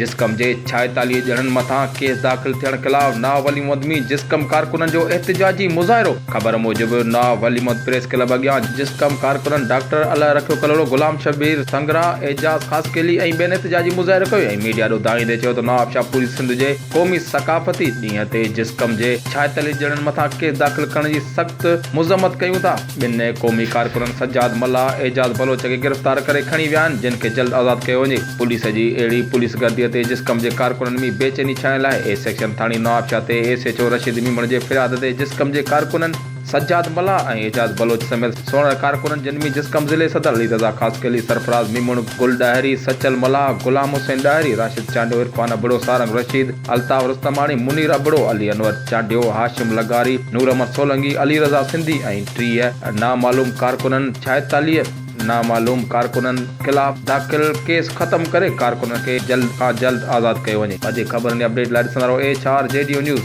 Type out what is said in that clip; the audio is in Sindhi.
جسقم جي ڇائيتاليهه ڄڻن مٿان ڪيس داخل ٿيڻ خلاف ناهه ولي محمد مير جسقم ڪارڪنن جو احتجاجي مظاهرو، خبر موجب ناهه ولي محمد پريس ڪلب اڳيان جسقم ڪارڪنن ڊاڪٽر الله رکيو ڪلهوڙو، غلام شبير سنگرا، اعجاز خاصخيلي ۽ ٻين احتجاجي مظاهرو ڪيو ۽ ميڊيا ڏو دانهيندي چيو ته نواب شاهه پوري سنڌ جي قومي ثقافتي ڏينهن تي جسقم جي ڇائيتاليهه ڄڻن مٿان ڪيس داخل ڪرڻ جي سخت مذمت ڪيون ٿا. ٻن قومي ڪارڪنن سجاد ملاح ۽ اعجاز بلوچ کي گرفتار ڪري کڻي ويا آهن جن کي جلد آزاد ڪيو وڃي پوليس جي اهڙي پوليس گردي تي جسقم جي ڪارڪنن مي بي چيني ڇانيل آهي اي سيڪشن ٿاڻي نوابشاهه تي S H O Rashid Memon جي فرياد تي جسقم جي ڪارڪنن سجاد ملاح ۽ اعجاز بلوچ سميت سوڙهن ڪارڪنن جن مي جسقم ضلعي صدر علي رضا خاصخيلي سرفراز ميمڻ گل ڏاهري سچل ملاح غلام حسين ڏاهري راشد چانڊيو عرفان ابڙو سارنگ رشيد الطاف رستماڻي، منير ابڙو، علي انور چانڊيو، هاشم لغاري، نور احمد سولنگي، علي رضا سنڌي ۽ ٽيهه نامعلوم ڪارڪنن ڇائيتاليهه نامعلوم ڪارڪنن خلاف داخل ڪيس ختم ڪري ڪارڪنن کي جلد کان جلد آزاد ڪيو وڃي. وڌيڪ خبرن يا اپڊيٽ لاء ڏسندا رهو ايڇ آر جي ڊيو نيوز.